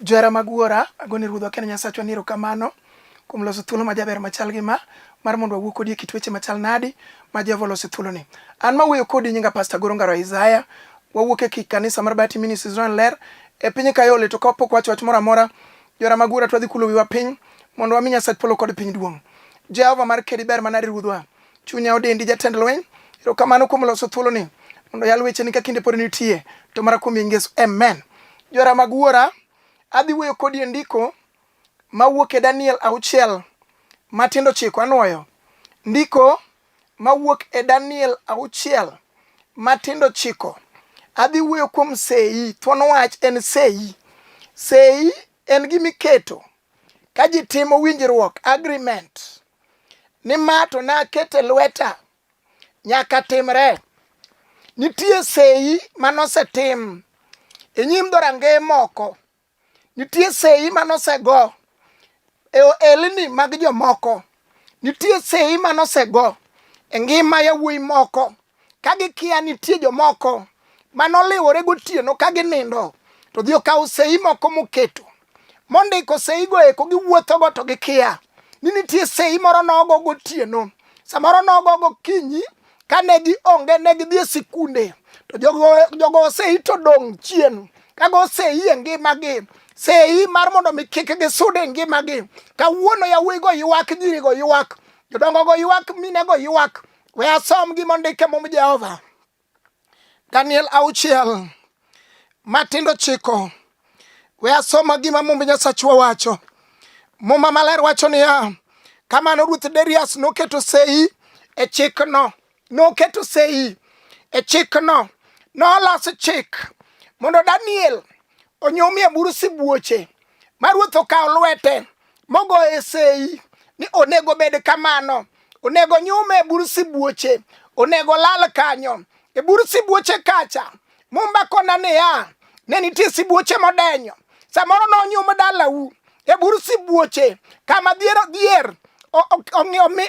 Johera mag Wuora, agoni Ruodhwa kendo Nyasachwa ni erokamano kuom loso thuolo ma jaber machal gi ma mar mondo wawuo kodi e kit weche machal nadi ma Jehova oloso e thuoloni. An ma wuoyo kodi nyinga Pasta Goro Ngaro Isaya, wawuok e kanisa mar Bahati Ministries Royal Ler e piny Kayole to kapok wacho wach moro amora, johera mag Wuora twadhi kulo wiwa piny mondo wami Nyasach polo kod piny duong'. Jehova mar kedi ber manadi Ruodhwa. Chunya odendi jatend lweny. Erokamano kuom loso thuolo ni mondo yal weche ni ka kinde pod nitie to mara kuom Yesu. Amen. Jora mag wuora, adhi wuoyo kodi e ndiko mawuok e Daniel auchiel matindo chiko anwoyo. Ndiko mawuok e Daniel auchiel matindo chiko. Adhi wuoyo kuom sei. Thuon wach en sei. Sei en gima iketo ka ji timo winjruok, agreement. ni ma to nakete lweta nyaka timre nitie seyi manosetim e nyim dhorange moko nitie seyi manosego e ohelni mag jomoko nitie seyi manosego e ngima yawuoyi moko ka gikia nitie jomoko manoliwore gotieno ka ginindo to dhi okawo sei moko moketo mondiko seigo eko giwuothogo to gikia ni nitie sei moro nogo gotieno samoro nogo gokinyi kane gionge ne gidhi e sikunde to jogo osei to dong' chien kago osei e ngimagi sei mar mondo mi kik gisud e ngimagi kawuono yawuoyigo ywak nyirigo ywak jodongogo ywak minego ywak We asom gima ondike mum Jehova. Daniel auchiel matindo chiko. We asoma gima mumb Nyasachwa wacho. Muma maler wacho niya, kamano Ruoth Darius noketo sei e chikno, noketo sei e chikno, noloso chik mondo Daniel onyumie buru sibuoche ma ruoth okawo lwete mogoye sei ni onego bed kamano onego nyume e bur sibuoche onego lal kanyo e bur sibuoche kacha mumba kona niya ne nitie sibuoche modenyo samoro nonyum dalau e bur sibuoche kama dhier dhier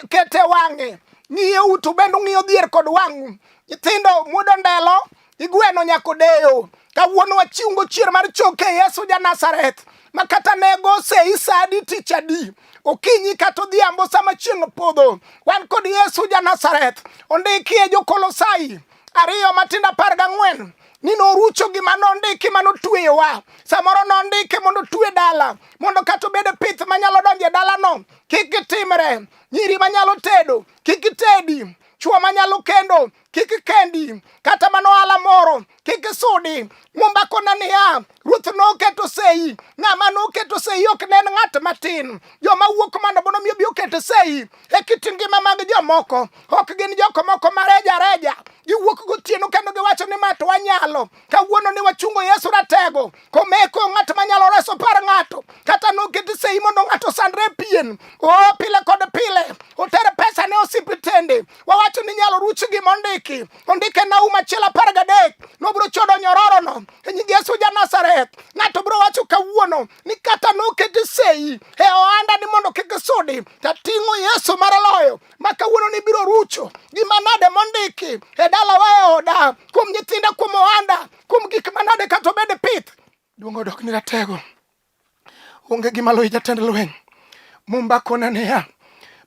kete wang'e ng'iyo utu bende ung'iyo dhier kod wang'u nyithindo muodo ndelo Igweno nyako deyo. Kawuono wachiungo chier mar choke Yesu ja Nazareth. Ma kata nego sei sadi tich adi. Okinyi kata odhiambo sama chieng' opodho. Wan kod Yesu ja Nazareth. Ondiki e Jokolosai ariyo matindo apar gang'wen ni norucho gima nondiki ma notweyowa samoro nondike mondo otwe dala mondo kata obed e pith manyalo donjo e dalano kik gitimre nyiri manyalo tedo kik gitedi chwo manyalo kendo kik kendi kata mana ohala moro kik isudi mumba kona niya ruoth noketo sei ng'ama noketo sei ok ne en ng'at matin joma wuok mana bono miyo bi oketo sei e kit ngima mag jomoko ok gin joko moko mareja reja giwuok gotieno kendo giwacho ni ma to wanyalo kawuono ni wachungo yesu ratego komeko ng'at manyalo reso par ng'ato kata noket sei mondo ng'ato sandre pien o pile kod pile oter pesa ne osipitende wawacho ni nyalo ruch gi mondiki ondike na uma chiel apar gadek nobro chodo nyororono e nying yesu ja nazareth ng'ato bro wacho kawuono ni kata noket sei e ohanda ni mondo kik sudi tating'o yesu mar loyo ma kawuono ni biro rucho gima nade mondiki e dalawa e oda kuom nyithinda kuom ohanda kuom gik manade kata obed pith duong' odok ni ratego onge gima loyi jatend lweny mumba kone niya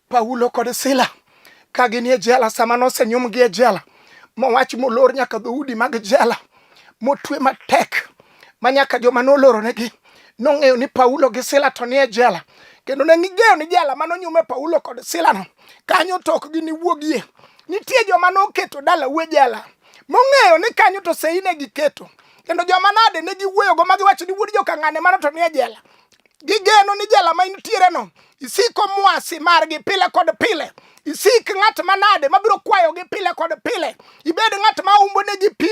paulo kod sila ka gin e jela sama nosenyumgi e jela mowach molor nyaka dhoudi mag jela motwe matek ma nyaka joma noloronegi nong'eyo ni paulo gi sila to nie jela kendo ne ging'eyo ni jela ma nonyume paulo kod silano kanyo to ok giniwuogie nitie joma noketo dala uwe jela mong'eyo ni kanyo to sei ne giketo kendo joma nade ne giwuoyogo ma giwacho ni wuod jokang'ane mano to nie jela gigeno ni jela ma intiereno isiko mwasi margi pile kod pile isik ng'at manade mabiro kwayogi pile kod pile ibed ng'at ma umbo negi pi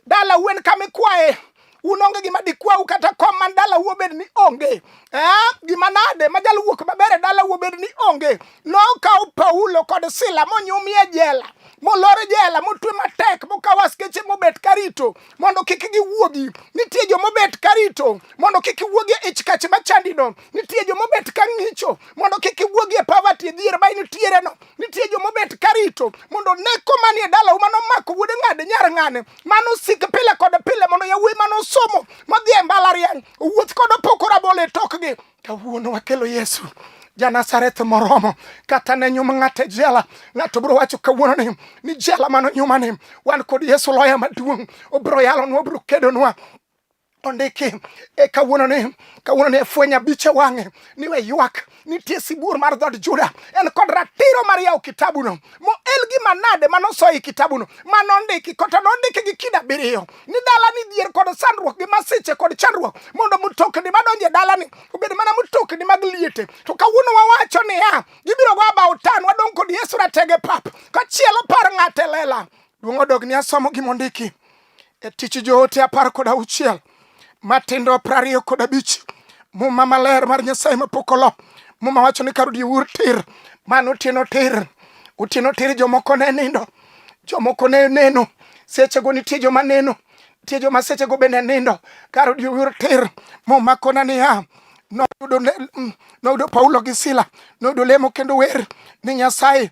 dala wen kama ikwaye un onge gima dikwau kata kom man dala wuobed ni onge eh, gima nade ma jal wuok maber e dala wuobed ni onge nokaw paulo kod sila monyumie jela molor jela motwe matek mokaw askeche mobet karito mondo kik giwuogi nitie jomobet karito mondo kik wuogi e ich kach machandino Nitie joma obet ka ng'icho mondo kik iwuogi e poverty dhier ma initiere no. Nitie joma obet ka rito mondo one koma nie dalau mano omako wuode ng'ade nyar ng'ane mano osik pile kod pile mondo yawuoyi mano osomo modhi e mbalariany owuoth kod opoko rabolo e tokgi. Kawuono wakelo Yesu janasareth moromo kata ne nyum ng'ato e jela ng'ato biro wacho kawuono ni ni jela mano nyuma ni wan kod yesu loya maduong' obiro yalonwa obiro kedonwa Ondiki e kawuono ni kawuono ni fweny abich e wang'e ni we ywak nitie sibuor mar dhood Juda en kod ratiro mar yawo kitabuno moel gi manade manosoyo e kitabuno manondiki kota nondiki gi kida abiriyo ni dalani dhier kod sandruok gi masiche kod chandruok mondo mtokni madonjo e dalani obed mana mtokni mag liete to kawuono wawacho niya gibiro go abawo tan wadong' kod Yesu ratege pap kachielo par ng'ate lela duong' odog ni asomo gimondiki e tich joote apar kod auchiel matindo piero ariyo kod abich muma maler mar nyasaye mapok olo muma wacho ni kar odiewur tir mano otieno tir otieno tir jomoko ne nindo jomoko ne neno sechego nitie joma neno nitie joma sechego bende nindo kar odiewur tir muma kona niya noyudo mm, paulo gi sila noyudo lemo kendo wer ni nyasaye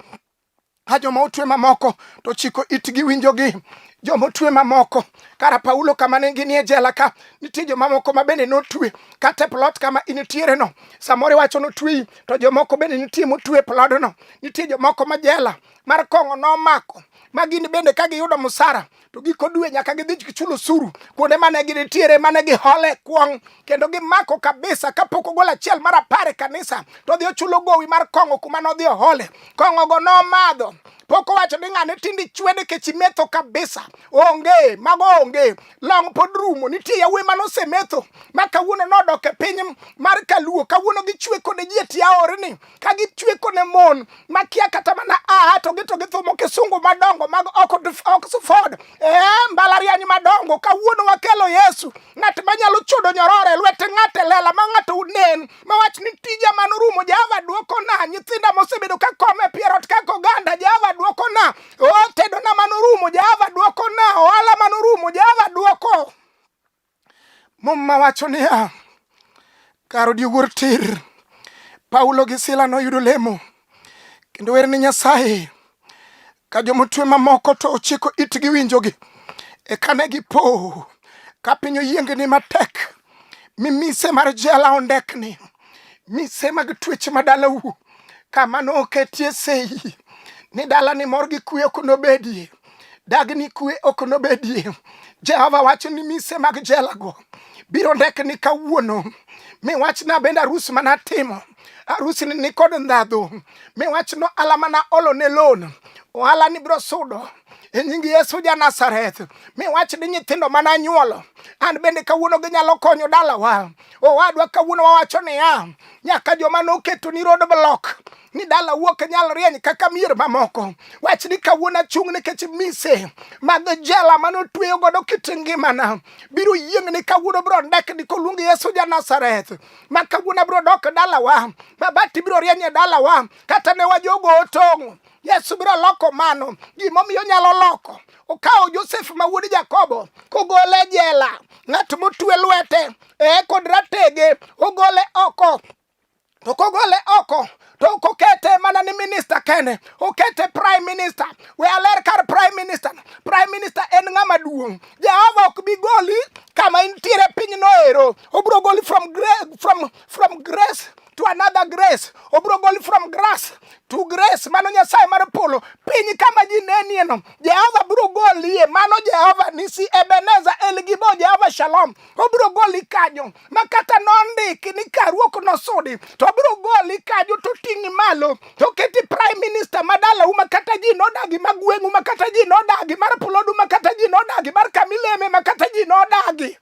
a joma otwe mamoko to chiko itgi winjogi joma otwe mamoko kara paulo kama ne ginie jela ka nitie jomamoko ma bende notwe kata e plot kama initiere no samoro iwacho notweyi to jomoko bende nitie motwe e plodno nitie jomoko ma jela mar kong'o nomako ma gin bende ka giyudo musara to giko dwe nyaka gidhi gichulo suru kuonde mane ginitiere mane gihole kwong' kendo gimako kabisa kapok ogol achiel mar apar e kanisa to odhi ochulo gowi mar kong'o kuma nodhi ohole kong'ogo nomadho pok owacho ni ng'ane tindi chwede kech imetho kabisa onge mago onge long pod rumo nitie yawuoyi mane osemetho ma kawuono nodok e piny mar kaluo kawuono gichwe kode ji e tiaorni ka gichweko ne mon makia kata mana a to gito githumo kisungu madongo mag Oxford eh, mbalariany madongo kawuono wakelo Yesu ng'at manyalo chodo nyorore lwet ng'at e lela ma ng'ato unen ma wach ni tija man rumo Jehova duoko na nyithinda mosebedo ka kome pierot kaka oganda Jehova duoko na otedona man rumo Jehova duoko na ohala man rumo Jehova duoko Muma wacho niya, kar odiogur tir, Paulo gi Sila noyudo lemo kendo wer ni Nyasaye ka jomotwe mamoko to ochiko itgi winjogi. Eka ne gipo ka piny oyiengni matek, mi mise mar jela ondekni, mise mag twech ma dalau kama noketie sei ni dalani mor gi kuyo kunobedie. dag ni kwe ok nobedie. Jehova wacho ni mise mag jelago biro ndek ni kawuono mi wachna bende arus mana timo arus ni nikod ndhadhu mi wachno ala mana olo ne lon ohala ni biro sudo e nying Yesu ja Nazareth mi wach ni nyithindo mana nyuolo an bende kawuono ginyalo konyo dalawa owadwa kawuono wawacho niya nyaka joma noketo ni road block ni dala wuok e nyal rieny kaka mier mamoko. Wach ni kawuono achung' nikech mise mag jela mane otweyo godo kit ngimana biro yieng' ni kawuono biro ndek ni koluong Yesu ja Nazareth ma kawuono biro dok dalawa mabati biro rieny e dalawa kata ne wajogo otong'o Yesu biro loko mano gimomiyo nyalo loko okawo Josef ma wuod Jakobo kogole e jela ng'at motwe lwete ee kod ratege ogole oko to kogole oko to ok okete mana ni minista kende okete prime minister we aler kar prime minister prime minister en ng'ama duong' jehova ok bi goli kama intiere piny noero obiro goli from, gra from, from grace to another grace obiro goli from grass to grace mano nyasaye mar polo piny kama ji nenieno jehova biro golie mano jehova nisi ebeneza elgibo jehova shalom obiro goli kanyo ma kata nondiki ni karuok nosudi to biro goli kanyo to ting'i malo to keti prime minister ma dalau ma kata ji nodagi ma gweng'u ma kata ji nodagi mar pulodu ma kata ji nodagi mar kamileme ma kata ji nodagi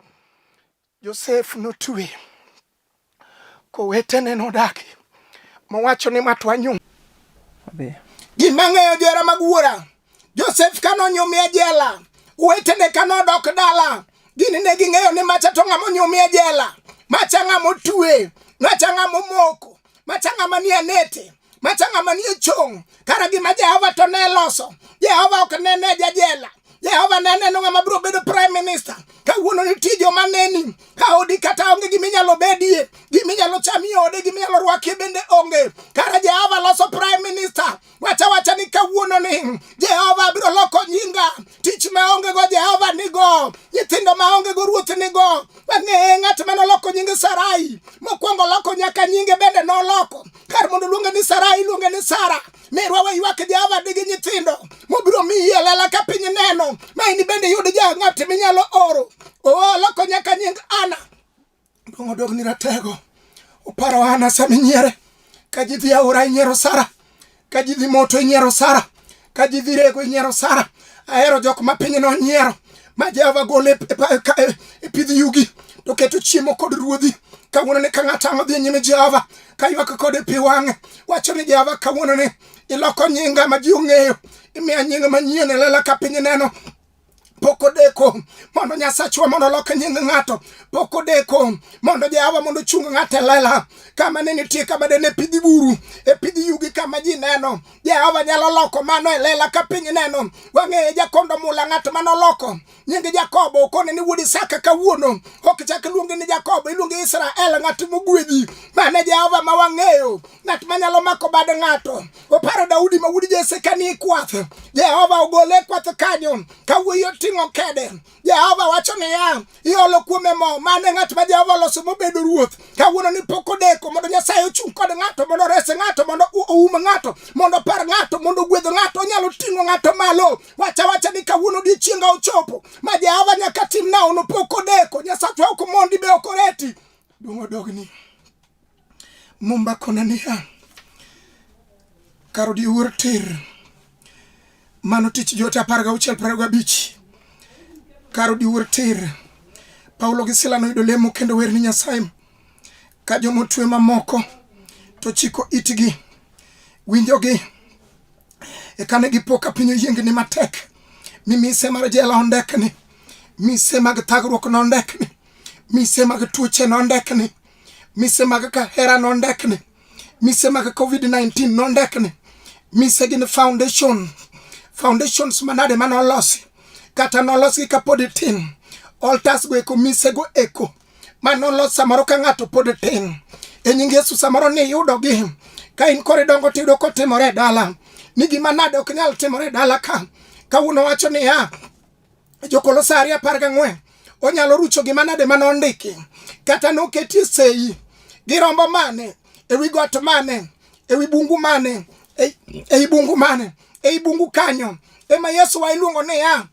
josef notwe kowetene nodagi mowacho ni matwa nyung' gima ng'eyo jera mag wuora Josef ka nonyumi e jela, wetene ka nodok dala, gini ne ging'eyo ni macha to ng'ama onyumi e jela, macha ng'ama otue, macha ng'ama omoko, macha ng'ama nie nete, macha ng'ama nie chong'. Kara gima Jehova to ne loso, Jehova ok nene e jajela, Jehova ne neno ng'ama biro bedo prime minister. Kawuono nitie joma neni ka odi kata onge gima inyalo bedie, gima inyalo chami ode, gima inyalo rwakie bende onge. Kara Jehova loso prime minister wacha wacha ni kawuono ni Jehova biro loko nyinga tich maonge go Jehova nigo nyithindo maonge go ruoth nigo wang'eye ng'at ma noloko nyinge Sarai mokwongo loko nyaka nyinge bende noloko kar mondo luonge ni Sarai iluonge ni Sara merwa we ywak Jehova digi nyithindo mobiro miyi e lela ka piny neno ma in bende yud ja ng'at minyalo oro oo loko nyaka nying Ana Dong' odogni ratego. Oparo Hana sama inyiere. Ka ji dhi aora inyiero Sara. Ka ji dhi moto inyiero Sara. Ka ji dhi rego inyiero Sara. Ahero jok ma piny no nyiero. Ma Jehova gole e pa- e ka- e- e pidh yugi. To keto chiemo kod ruodhi. Kawuono ni ka ng'ato ang' odhi nyime Jehova. Ka ywak kode pi wang'e. Wacho ni Jehova kawuono ni iloko nyinga ma ji ong'eyo. Imiya nying manyien e lela ka piny neno. pok odeko mondo nyasachwa mondo olok nying ng'ato pok odeko mondo jahawa mondo chung ng'ato e lela kama ne nitie kama de ne pidhi buru e pidhi yugi kama ji neno jahawa nyalo loko mano e lela ka piny neno wang'eye jakondo mula ng'at mano loko nying jakobo okone ni wuod isaka kawuono ok chak luonge ni jakobo iluonge israel ng'at mogwedhi mane jehova ma wang'eyo ng'at manyalo mako bad ng'ato oparo Daudi ma wuod Jesse ka ni kwath. Jehova ogole e kwath kanyo ka wuoyi oting'o kede. Jehova wacho niya, iolo kuome mo, mano e ng'at ma Jehova oloso mobedo ruoth. Kawuono ni pok odeko mondo Nyasaye ochung' kod ng'ato, mondo ores ng'ato, mondo oum ng'ato, mondo opar ng'ato, mondo ogwedh ng'ato, onyalo ting'o ng'ato malo. Wacha wacha ni kawuono odiechienga ochopo ma Jehova nyaka tim naono, pok odeko. Nyasachwa ok mondi be ok oreti. Duong' odogni. Mumba kona niya, kar odiwuor tir, mano tich joote apar gauchiel piero ariyo gabich. Kar odiwuor tir, Paulo gi Sila noyudo lemo kendo wer ni Nyasaye, ka joma otwe mamoko to chiko itgi winjogi. Eka ne gipo ka piny oyiengni matek, mi mise mar jela ondekni, mise mag thagruok nondekni, mise mag tuoche nondekni. mise mag kahera nondekne mise mag covid-19 nondekne mise gin foundation foundations manade ma nolosi kata nolosgi ka pod tin altars go eko mise go eko ma nolos samoro ka ng'ato pod tin e nying yesu samoro ni yudogi ka in kori dongo tiyudo kotimore e dala ni gima nade ok nyal timore e dala ka kawuono wacho niya Jokolosari apar gang'wen onyalo rucho gima nade ma nondiki kata noketie sei gi rombo mane ewi got mane ewi bungu mane ei bungu mane ei bungu kanyo ema yesu wa iluongo niya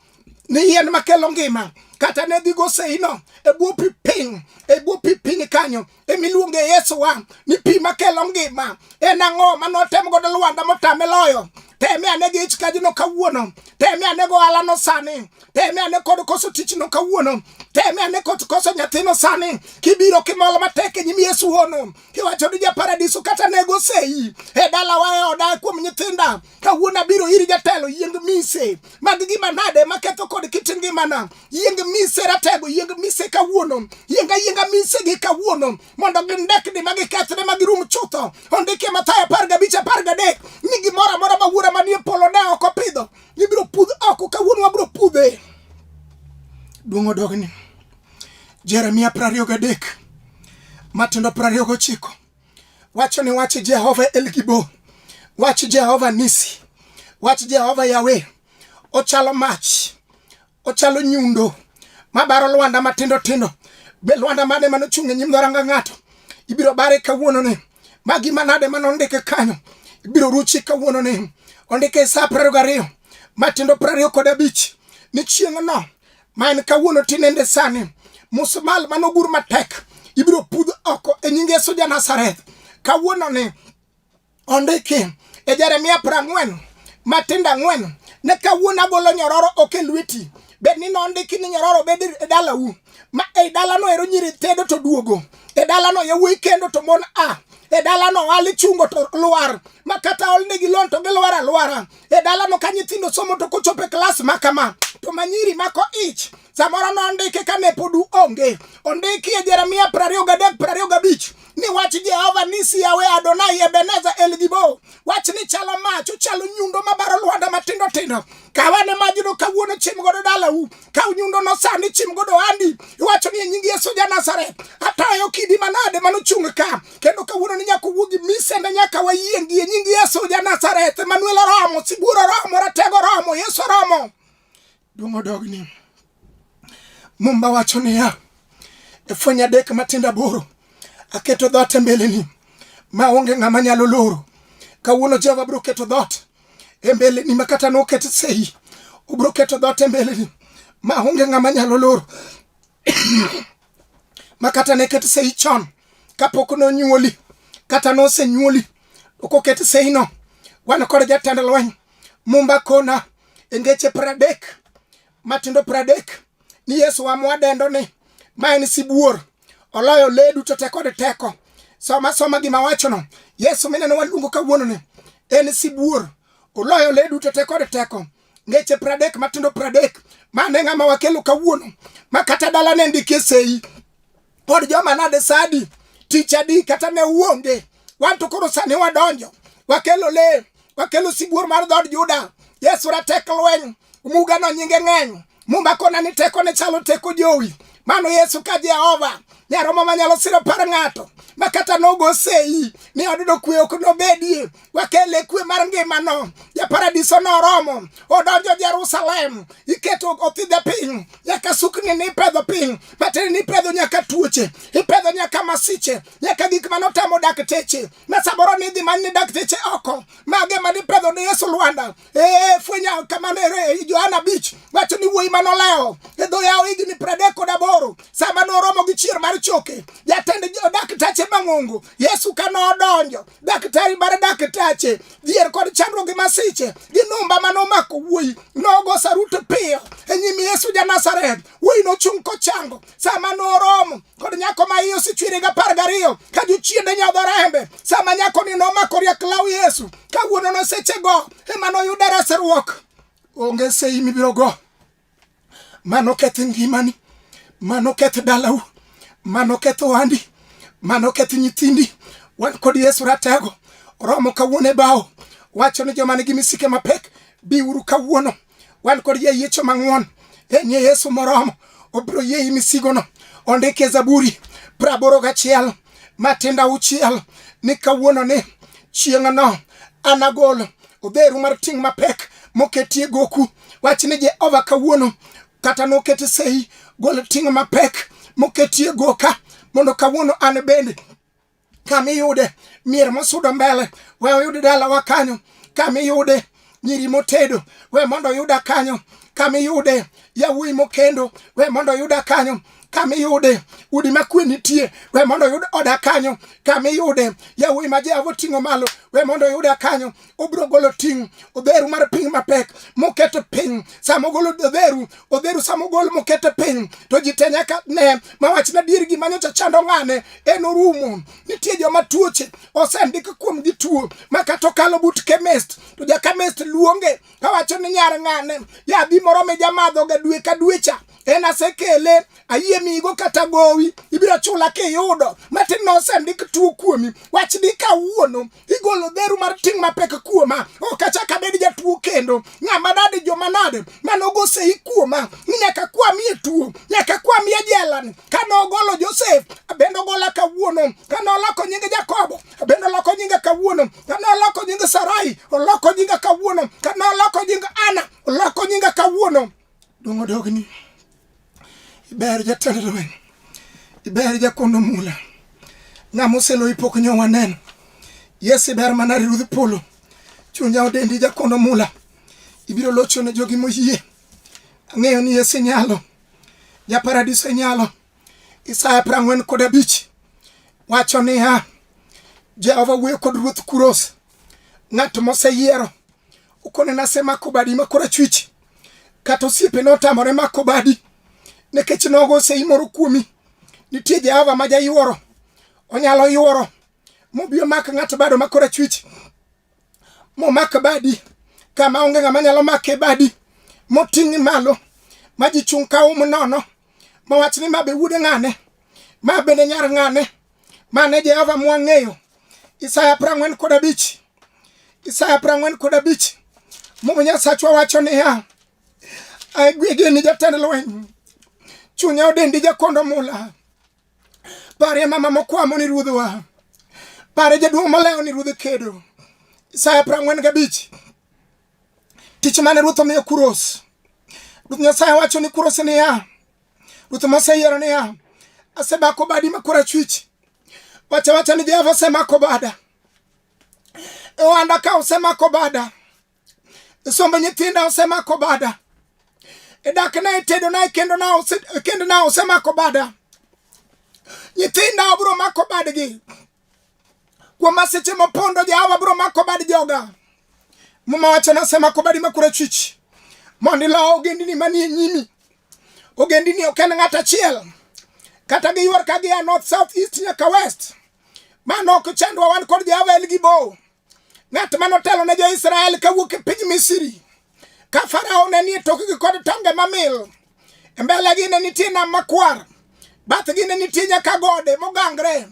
ni yien makelo ngima kata ne dhigo seino e bwo pi piny e bwo pi piny kanyo emiluonge Yesu wa ni pi makelo ngima en ang'o ma notem godo Lwanda motame loyo teme ane gi ich kajino kawuono teme ane go alano sani teme ane kod koso tichno kawuono teme ane kod koso nyathino sani kibiro kimol matek e nyim Yesu hono kiwacho ni japaradiso kata nego sei e dalawa e oda kuom nyithinda kawuono abiro iri jatelo yieng mise mag gima nade maketho kod kit ngimana yieng mise ratego yieng mise kawuono yieng ayienga mise gi kawuono mondo gindekni ma gikethre ma girum chutho ondike mathayo apar gabich apar gadek ni gimoro amora ma wuora manie polo ne ok opidho ibiro pudh oko kawuono wabiro pudhe duong' odogni jeremia prariyo gadek matindo prariyo gochiko Wacho ni wach Jehova El Gibor, wach Jehova Nisi, wach Jehova Yawe ochalo mach, ochalo nyundo mabaro lwanda matindo tindo. Be lwanda mane mane ochung' e nyim dharanga ng'ato ibiro bare kawuono ni ma gima nade mane ondike kanyo ibiro ruchi kawuono ni ondike e sa piero gariyo matindo piero ariyo kod abich ni chieng'no ma en kawuono tinende sani musmal manogur matek ibiro pudh oko e nying Yesu ja Nazareth kawuono ni ondiki e Jeremia prang'wen matindo ang'wen ne kawuono agolo nyororo ok e lweti bed ni nondiki ni nyororo bed e dalau ma ei dalano ero nyiri tedo to duogo e dalano yawuoyi kendo to mon a e dalano wali chungo to lwar ma kata olnegi lon to gilwar alwara e dalano ka nyithindo somo to kochopo e klas ma kama to manyiri mako ich samoro nondike ka ne pod onge ondiki e jeremia prariyo gadek prariyo gabich ni wach jehova ni siyawe adonai ebeneza elgibo wach ni chalo mach ochalo nyundo mabaro lwanda matindo tindo kawane majno kawuono chim godo dalau kaw nyundono sani chim godo ohandi iwacho ni e nying yesu ja nazareth atayo kidi manade manochung' ka kendo kawuono ni nyaka owuogi misende nyaka wayiengi e nying yesu ja nazareth emanuel oromo sibuor oromo ratego oromo yesu oromo duong' odogni mumba wacho niya e fweny adek matindo aboro aketo dhoot e mbeleni ma onge ng'ama nyalo loro kawuono jehova biro keto dhoot e mbeleni ma kata noket sei obiro keto dhoot e mbeleni ma onge ng'ama nyalo loro ma kata ne ket sei chon kapok nonyuoli kata nosenyuoli okoket seino wan kod jatend lweny mumba kona e ngeche pradek matindo pradek ni Yesu wa mwadendo ni ma en sibuor oloyo le duto te kod teko soma soma gima wachono Yesu mineno waluongo kawuono ni en sibuor oloyo le duto te kod teko ngeche pradek matindo pradek mane ng'ama wakelo kawuono ma kata dala ne ndikie sei pod joma nade sadi tich adi kata ne uonge wan to koro sani wadonjo wakelo le wakelo sibuor mar dhod juda yesu ratek lweny muga no nyinge ng'eny mumba kona ni teko ne chalo teko jowi mano yesu ka jehova nyaromo manyalo siro par ng'ato makata nogo sei ni odudo kwe ok nobedie wakele kwe mar ngimano japaradiso noromo odonjo jerusalem iketo othidhe piny nyaka sukni ni ipedho piny bateri ni ipedho nyaka tuoche ipedho nyaka masiche nyaka gik mane otamo dakteche na samoro ni idhi many ni dakteche oko mage mane ipedho ne yesu lwanda ee fwenya kamano ere johana bich wacho ni wuoyi mane olewo e dho yawo higni pradek kod aboro sama noromo gi chier mar choke jatend dakteche mang'ongo yesu ka nodonjo daktari mar daktache dhier kod chandruok gi masiche gi numba mane omako wuoyi nogo saruto piyo e nyim yesu ja nazaret wuoyi nochung' kochango sama noromo kod nyako ma iye osechwere gi apar gariyo ka jochiende nyadho rembe sama nyakoni nomako riek law yesu kawuono nosechego ema noyudo resruok onge sei mibiro go mano keth ngimani mano keth dalau mano keth ohandi mano keth nyithindi wan kod yesu ratego romo kawuono e bao wacho ni joma nigi misike mapek biuru kawuono wan kod jayiecho mang'won e nye yesu moromo obiro yieyi misigono ondike zaburi praboro gachiel matinda uchiel ni kawuono ni chieng'no anagol odheru mar ting' mapek moketie goku Wach ni Jehova kawuono kata nokete sei golo ting' mapek moketie goka mondo kawuono an bende kamiyude mier mosudo mbele we oyud dalawa kanyo kamiyude nyiri motedo we mondo oyuda kanyo kamiyude yawuoyi mokendo we mondo oyuda kanyo kama iyude udi ma kwe nitie we mondo oyud oda kanyo kama iyude yawuoyi ma jehova oting'o malo we mondo oyuda kanyo obiro golo ting' odheru mar piny mapek moketo piny sama ogolo odheru odheru sama ogol moketo piny to ji te nyaka ne ma wachna dier gima nyocha chando ng'ane en orumo nitie joma tuoche osendik kuomgi tuo ma kata okalo but chemist to ja chemist luonge kawacho ni nyar ng'ane yadhi moro mi jamadhoga dwe ka dwecha en asekele ayie migo kata gowi ibiro chula kiyudo matin ma osendik tuo kuomi wach ni kawuono igolo dheru mar ting' mapek kuoma ok achak abed jatuo kendo ng'ama nade joma nade manogosei kuoma ni nyaka kwamie tuo nyaka kwamie jelani ka nogolo josef abendo gola kawuono ka noloko nyinge jakobo abendo loko nyinge kawuono ka noloko nyinge sarai oloko nyinge kawuono ka noloko nyinge ana oloko nyinge kawuono Dong' odogni. Iber jatend lweny. Iber jakono mula. Ng'ama oseloyi pok nyo waneno. Yes, iber mana Ruodh Polo. Chunya odendi jakono mula. Ibiro locho ne jogi moyie. Ang'eyo ni yes inyalo. Ja paradiso inyalo. Isaya prang'wen kod abich. Wacho niya, Jehova wuoyo kod Ruoth Kuros. Ng'at moseyiero. Ukone nasemako badi ma korachwich. kata osiepe notamore mako badi nikech nogo oseimoro kuomi nitie jehova ma jayuoro onyalo yuoro mobi omak ng'ato bado makora chwich momak badi kama onge ng'ama nyalo make badi moting' malo ma ji chung' ka um nono mowach ni ma be wuode ng'ane ma bende nyar ng'ane mane jehova mwang'eyo isaya prang'wen kod abich Isaya prang'wen kod abich Muma Nyasachwa wacho niya, agwege ni jatend lweny, chunya odendi jakondo mula, pare mama mokwamo ni ruodhwa, pare jaduong' malewo ni ruodh kedo. Isaya prang'wen gabich tich mane ruoth omiyo Kuros. Ruoth Nyasaye wacho ni Kuros niya, ruoth moseyiero niya, asebako badi ma korachwich, wacha wacha ni Jehova osemako bada ohanda ka osemako bada sombo nyithinda osemako bada dakna e tedona e kendona osemako bada nyithinda obro mako badgi kuom masiche mopondo jahawa bro mako bad joga muma wacho nasemako badi makura chwich mondo ilo ogendini manie nyimi ogendini ok en ng'at achiel kata giywar ka gia north south east nyaka west Mano ok chandwa wan kod Jehova en gi bow. Ng'at ma notelo ne jo-Israel kawuok e piny Misri. Ka Farao ne nie tokgi kod tonge mamil. E mbelegi ne nitie nam makwar. Bathgi ne nitie nyaka gode mogangre.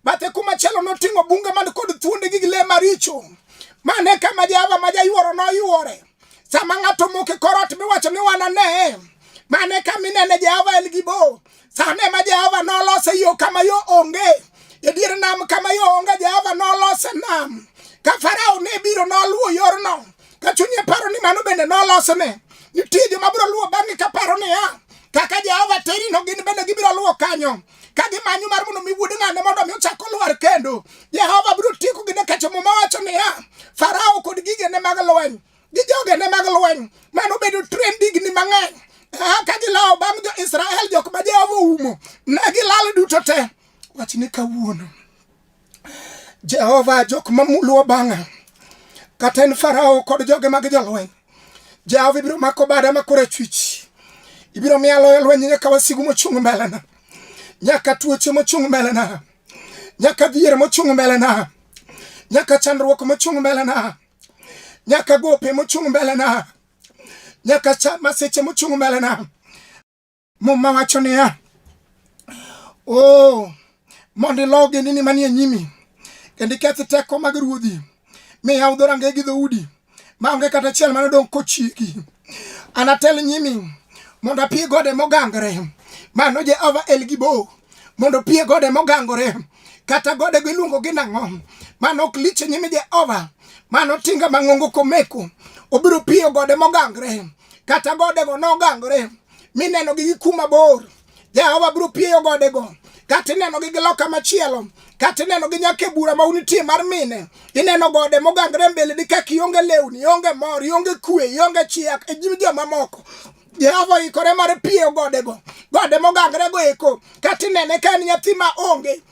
Bathe kumachielo noting'o bunge man kod thuonde gi le maricho. Mane kama Jehova ma jayuoro noyuore. Sama ng'ato omoko e kor ot miwacho ni wanane, mane ka minene Jehova en gi bo. Sano ema Jehova nolose yo kama yo onge, e dier nam kama yo onge Jehova nolose nam. Ka Farao ne biro noluwo yorno, ka chunye paro ni mano bende nolosne. Nitie joma biro luwo bang'e ka paro niya, kaka Jehova terino gin bende gibiro luwo kanyo. ka gimanyo mar mondo mi wuod ng'ane mondo mi ochak olwar kendo jehova biro tieko gi nikacho muma wacho niya farao kod gigene mag lweny gi jogene mag lweny mano bedo tren digni mang'eny ka gilawo bang' jo-israel jok ma jehova oumo ne gilal duto te wachne kawuono Jehova jok ma luwo bang'a kata en Farao kod joge mag jolweny, Jehova ibiro mako bada ma korachwich, ibiro miya loyo lweny nyaka wasigu mochung' mbelena, nyaka tuoche mochung' mbelena, nyaka dhier mochung' mbelena, nyaka chandruok mochung' mbelena, nyaka gope mochung' mbelena, nyaka masiche mochung' mbelena. Muma wacho niya, o oh, mondo ilo ogendini manie nyimi kendo iketh teko mag ruodhi mi yaw dho rangeye gi dhoudi maonge kata achiel mane odong' kochiki anatel nyimi mondo apie gode mogangore mano jehova elgibo mondo pie gode mogangore kata gode go iluongo gi nang'o mano ok lich e nyime jehova mano tinga mang'ongo komeko obiro piyo gode mogangore kata godego nogangore mineno gi kuma bor jehova biro pieyo godego kata ineno gi giloka machielo kata ineno gi nyaka e bura ma unitie mar mine ineno gode mogangre mbele ni kaka ionge lewni ionge mor ionge kwe ionge chiak e nyim jomamoko jehova oikore mar pieyo godego gode mogangre go eko kata inene ka en nyathi ma onge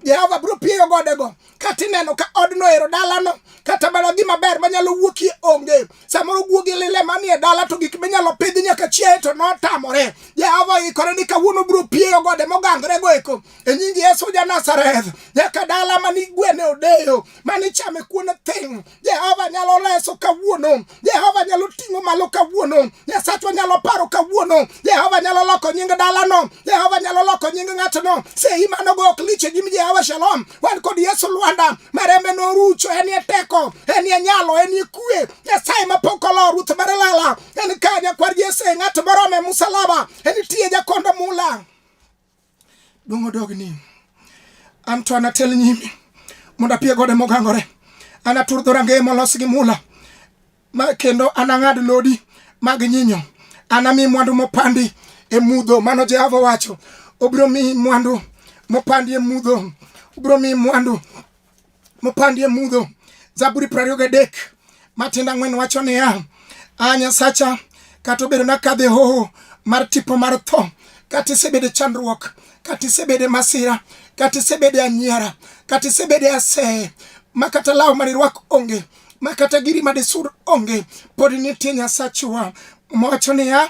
Jehova biro pieyo godego kata ineno ka odno ero dalano kata mana gima ber manyalo wuokie onge samoro guogi lile manie dala to gik minyalo pidh nyaka chiaye to notamore Jehova oikore ni kawuono biro pieyo gode mogangre go eko e nying Yesu ja Nazareth nyaka dala mani gwene odeyo mani chame kuon thing Jehova nyalo reso kawuono. Jehova nyalo ting'o malo kawuono. Nyasachwa nyalo paro kawuono. Jehova nyalo loko nying dalano. Jehova nyalo loko nying ng'atno. Sei mano go ok lich e nyim Jehova Shalom. Wan kod Yesu Lwanda marembe norucho. En ye teko, en ye nyalo, en ye kue. Nyasaye mapok olo Ruth Marelala. En kanya kwar Jesse ng'at morome musalaba. En tiye jakondo mula. Dongo dog ni. An to anatel nyime mondo apie gode mogangore. Anatur dho rangeye molos gi mula ma kendo anang'ad lodi mag nyinyo. Anami mwandu mopandi e mudho, mano Jehova wacho. Obiro mi mwandu mopandi e mudho, obiro mi mwandu mopandie mudho. Zaburi prariyo gadek matindo ang'wen wacho niya, a Nyasacha, kata obedo nakadhe hoho mar tipo mar tho, kata isebede chandruok, kata isebede masira, kata isebede anyiera, kata isebede aseye, ma kata law manirwak onge, ma kata giri madisur onge, pod nitie Nyasachwa. Mowacho niya,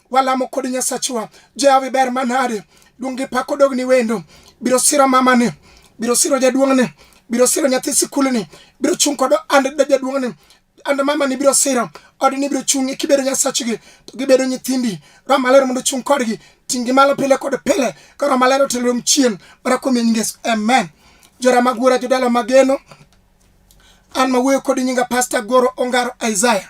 walamo kod nyasachwa jawi ber manade duong' gi pak odogni wendo biro siro mamani biro siro jaduong'ni biro siro nyathi sikulni biro chung' kod and jaduong'ni and mamani biro siro odni biro chung'e kibedo nyasachgi to gibedo nyithindi roho maler mondo chung' kodgi tinggi malo pile kod pile ka roho maler otelom chien mana kuom nying yesu amen jora mag wuora jodala mageno an mawuoyo kod nyinga pasta goro ongaro isaiah